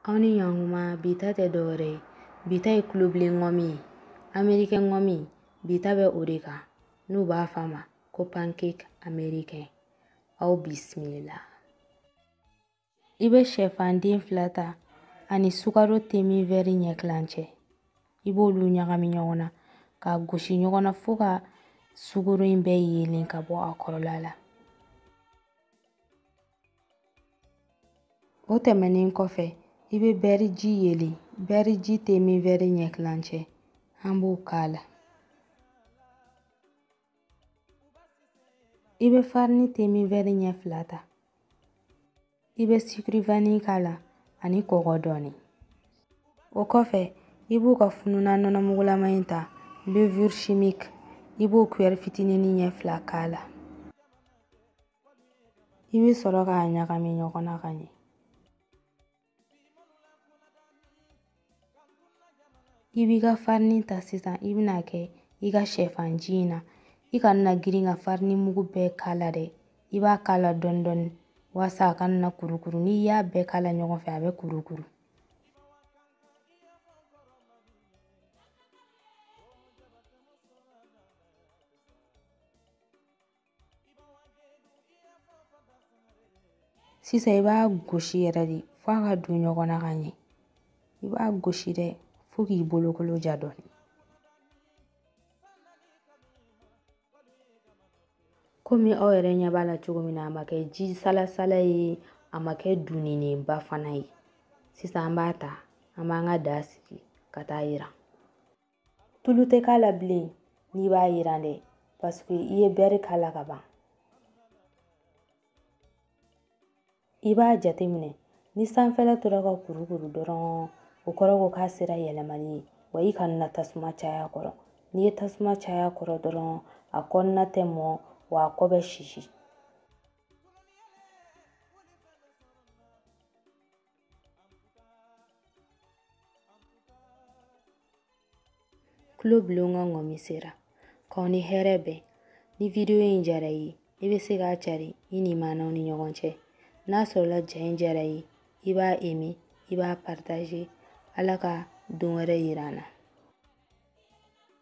aw ni ɲɔgɔnkuma bi ta tɛ dɔwɛrɛ ye bi ta ye kulobilen ŋɔmi ye amerikɛn ŋɔmi bi ta bɛ o de kan n'u b'a fɔ a ma ko pancake amerikɛn aw bisimila i bɛ shɛfanden fila ta ani sukaro te min wɛri ɲɛ kilancɛ i b'olu ɲagami ɲɔgɔn na ka gosi ɲɔgɔn na fo ka sukoro in bɛɛ yeelen ka bɔ a kɔrɔla la O tɛmɛnen kɔfɛ i bɛ bɛri ji yeelen bɛri ji te min wɛri ɲɛ tilancɛ an b'o k'a la i bɛ farini te min wɛri ɲɛ fila ta i bɛ sucre vanille k'a la ani kɔgɔ dɔɔni o kɔfɛ i b'u ka fununan nɔnɔmugulama in ta levure chimique i b'o kuyɛri fitinin ɲɛ fila k'a la i bɛ sɔrɔ k'a ɲagami ɲɔgɔn na ka ɲɛ i b'i ka farini ta sisan i bɛn'a kɛ i ka shɛfanji in na i kana na girin ka farini mugu bɛɛ k'a la dɛ i b'a k'a la dɔɔni dɔɔni walasa a kana na kurukuru n'i y'a bɛɛ k'a la ɲɔgɔn fɛ a bɛ kurukuru sisan i b'a gosi yɛrɛ de f'a ka don ɲɔgɔn na ka ɲɛ i b'a gosi dɛ fo k'i bolokolo ja dɔɔni komi aw yɛrɛ ɲɛ b'a la cogo min na a ma kɛ ji salasala ye a ma kɛ duninenba fana ye sisan an b'a ta an b'an ka daga sigi ka t'a yiran tulu tɛ k'a la bilen n'i b'a yiran dɛ paseke i ye bɛri k'a la ka ban i b'a jateminɛ ni sanfɛla tora ka kurukuru dɔrɔn o kɔrɔ ko k'a sera yɛlɛmali ye wa i kana na tasuma caya kɔrɔ n'i ye tasuma caya kɔrɔ dɔrɔn a kɔnɔna tɛ mɔ wa a kɔ bɛ sisi Kulobilen ka ŋɔmi sera k'aw ni hɛrɛ bɛn ni vidiyo in diyar'i ye i bɛ se k'a cari i limaanaw ni ɲɔgɔn cɛ n'a sɔrɔla ja in diyar'i ye i b'a aimer i b'a partager ala ka don wɛrɛ yira an na